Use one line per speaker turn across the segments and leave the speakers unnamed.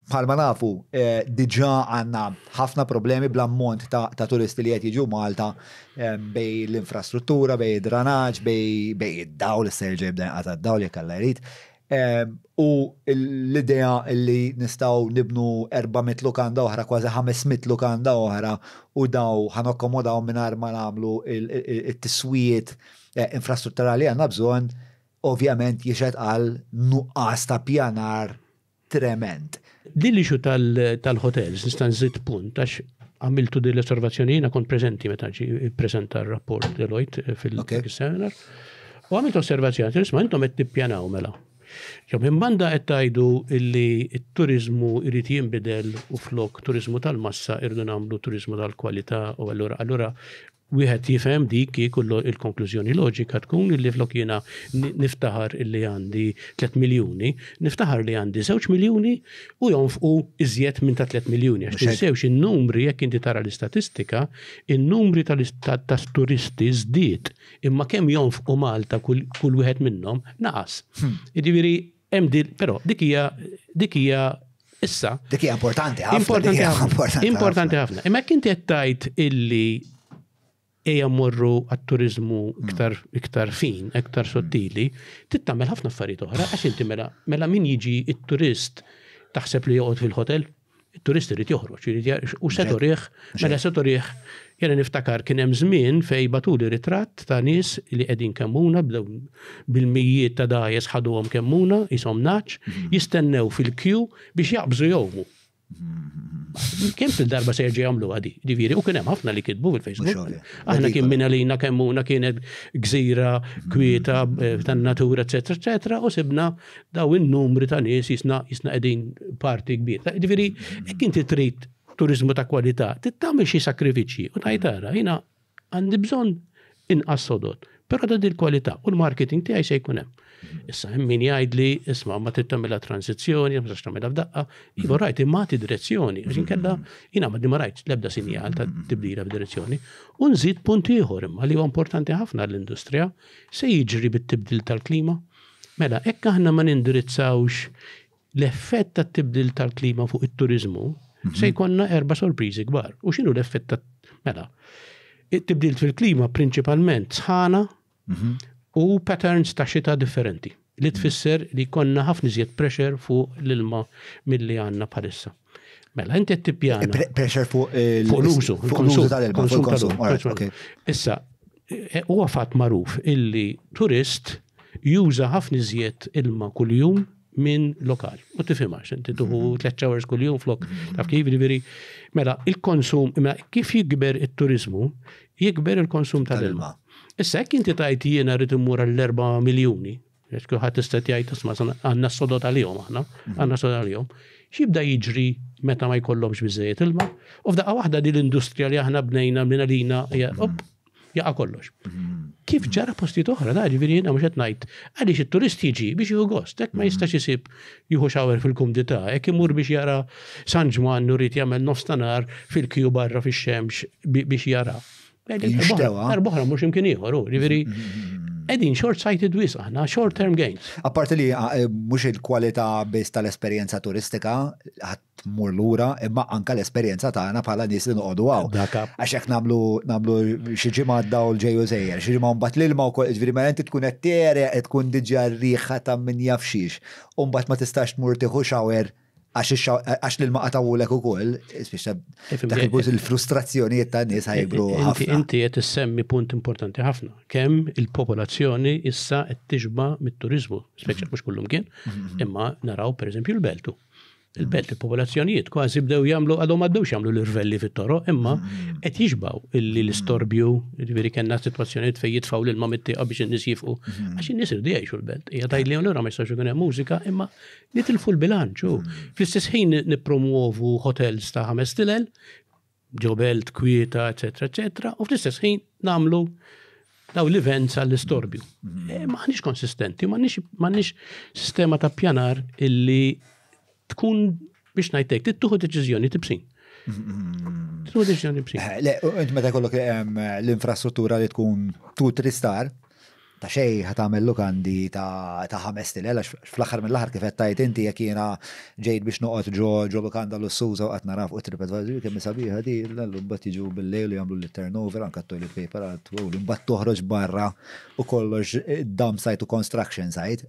Bħalma nafu, diġà għandna ħafna problemi bl-ammont ta' turisti li qed jiġu Malta bejn l-infrastruttura, bejn id-dranaġġ, bejn id-dawl, issa jerġa' jibda jinqata' d-dawl jekk Alla jrid. U l-idea li nistgħu nibnu 400 lukanda oħra, kważi 500 lukanda oħra, u dawn ħa nakkomodawhom mingħajr ma nagħmlu t-tiswijiet infrastrutturali li għandna bżonn, ovvjament jixhed għal nuqqas ta' ppjanar tremend. Din l-issue
tal-hotels nista' nżid punt għax għamiltu din l-osservazzjoni jiena kont preżenti meta ġi ppreżenta r-rapport Deloitte fil-seminar. U għamilt osservazzjoni, nisma' intom qed tippjanaw mela. Jew minn banda qed tgħidu illi t-turizmu jrid jinbidel u flok turizmu tal-massa irdu nagħmlu turizmu tal-kwalità u allura allura Wieħed jifhem dik kieku l-konklużjoni loġika tkun illi flok jiena niftaħar illi għandi 3 miljuni, niftaħar li għandi 2 miljuni u jonfqu iżjed minn ta' 3 miljuni. Għax tinsewx in-numri jekk inti tara l-istatistika, in-numri tal-turisti żdied imma kemm jonfqu Malta kull wieħed minnhom naqas. Hmm. Jiġifieri Hemm din, però dik hija dik hija issa. Dik hija importanti
ħafna. Importanti ħafna. Importanti ħafna. Imma
jekk inti qed tgħid illi eja morru għat-turizmu mm. iktar, iktar fin, iktar mm. sottili, tittamel ħafna affarijiet oħra, għax inti mela, mela min jiġi it-turist taħseb li joqgħod fil-hotel? It-turist irid joħroġ, irid jgħarix u se turih, mela se turih, jena niftakar kien hemm żmien fejn batuli ritratt ta' nies li qegħdin kemmuna bdew bil-mijiet ta' dajes ħaduhom kemmuna, ishom naċ, mhm. jistennew fil-kju biex jaqbżu jowmu. Kemm fil-darba se jerġa' jagħmlu għadi, diviri, u kien hemm ħafna li kitbu fil-Facebook. Aħna kien minn għalina kemmuna kienet gżira, kwieta, eh, tan-natura, eċetera, eċetera, u sibna Daw in-numri ta' nies jisna jisna qegħdin parti kbir. Ġifieri, jekk inti trid turizmu ta' kwalità, tittamel xi sakrifiċċji u ngħid ara, jiena għandi bżonn inqas sodod, però ta' din kwalità u l-marketing tiegħi se jkun hemm. Issa hemm min jgħid li isma' ma trid tagħmilha transizzjoni, ma tistax tagħmilha f'daqqa, iva rajt imagħti direzzjoni, għax inkella jiena ma ma rajt l-ebda sinjal ta' tibdila f'direzzjoni. U nżid punt ieħor imma li huwa importanti ħafna l-industrija se jiġri bit-tibdil tal-klima. Mela, hekk aħna ma nindirizzawx l-effett tat-tibdil tal-klima fuq it-turiżmu, mhm. se jkollna erba' sorpriżi kbar. U x'inhu l-effett ta' mela? It-tibdil fil-klima prinċipalment sħana mhm. u patterns ta' xita differenti li mhm. tfisser li konna ħafna iżjed pressure fuq l-ilma milli għandna bħalissa. Mela, inti t-tipjana. Pressure fuq l-użu.
Fuq l-użu
tal-ilma.
Fuq l-użu. Issa,
e, u għafat maruf illi turist juża ħafna iżjed ilma kull-jum minn lokal. U tifimax, inti tuħu 3 mhm. hours kull-jum flok. Mhm. Taf kif veri. Mela, il-konsum, mela, kif jikber il-turizmu, jikber il-konsum tal-ilma. Issa, jek inti tajt jiena rrit immur għall-4 miljoni, Għax kulħadd tista' jgħid isma' għandna sodod għalihom aħna, għandna sodod għalihom. X'jibda jiġri meta ma jkollhomx biżejjed ilma? U f'daqqa waħda din l-industrija li aħna bnejna minn għalina jaqa' kollox. Kif ġara postijiet oħra, da ġifieri jiena mhux qed ngħid għaliex it-turist jiġi biex jieħu gost, hekk ma jistax isib jieħu xawer fil-kumdità, hekk imur biex jara San Ġwann u rrid jagħmel nofs tanar fil-kju barra fix-xemx biex jara. Darbohra mhux imkien ieħor, ġifieri Edin short sighted wis aħna, short term gains. Apparti li ah, eh,
mhux il-kwalità biss tal-esperjenza turistika ħadd mur lura, imma anka l-esperjenza tagħna bħala nies li noqogħdu hawn. Għax hekk nagħmlu nagħmlu xi ġimgħa dawl ġejju żejjer, xi ġimgħa mbagħad l-ilma wkoll ġifieri ma inti tkun qed tereq tkun diġà riħa ta' min jafxiex. U mbagħad ma tistax tmur tieħu xawer Għax l-ilma qatawulek u koll, il-frustrazzjonijiet ta' nis ħajbru. Inti qed issemmi
punt importanti ħafna. Kemm il-popolazzjoni issa qed tixba mit-turizmu, speċjal mhm. mhux kullum kien, mhm. imma naraw pereżempju l-Beltu. Il-belt il-popolazzjonijiet kważi bdew jagħmlu għadhom għaddewx jagħmlu l-irvelli fit-toro, imma mhm. qed jixbaw illi l-istorbju, jiġifieri kellna sitwazzjonijiet fejn jitfgħu lil ma mittieqa biex in-nies jifqu. Għax in-nies irdu jgħixu l-belt. Hija tajli allura ma jistax ikun hemm mużika, imma Nitilfu l-bilanċ u fl-istess ħin nippromwovu hotels ta' ħames tilel, ġobelt, kwieta, eċetera, eċetera, u fl-istess ħin nagħmlu daw l-events għall-istorbju. Mm-hmm. Eh, maħniex konsistenti, maħniex sistema ta' pjanar illi tkun biex najtek, tittuħu deċizjoni tibsin. Mm-hmm. Tittuħu deċizjoni tibsin. Eh,
le, int meta kollok ehm, l-infrastruttura li tkun tu
tristar,
Ta' xejn ħa tagħmel lukandi ta' ħames tilel għax fl-aħħar mill-aħħar kif qed tgħid inti jekk jiena ġejt biex noqgħod ġo lukanda lussuża u qed nara fuq it-TripAdvisor li kemm hi sabiħa di, l-għallum imbagħad jiġu bil-lejl u jagħmluli t-turnover anke t-toilet paper għad tgħolli imbagħad toħroġ barra u kollox dump site u construction site.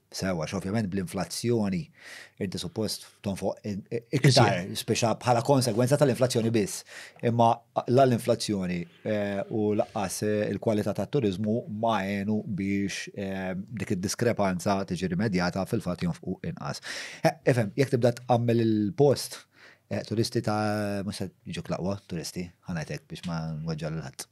Sew, għax ovvjament bl-inflazzjoni inti suppost tonfoq iktar, speċa bħala konsegwenza tal-inflazzjoni biss. Imma la l-inflazzjoni eh, u laqqas eh, il-kwalità tat-turizmu ma għenu biex eh, dik id-diskrepanza tiġi rimedjata fil-fatt jonfqu inqas. Efem, jekk tibda tqammel il-post, turisti ta' mhux se jiġu laqwa, turisti, ħanajtek biex ma nweġġa l-ħadd.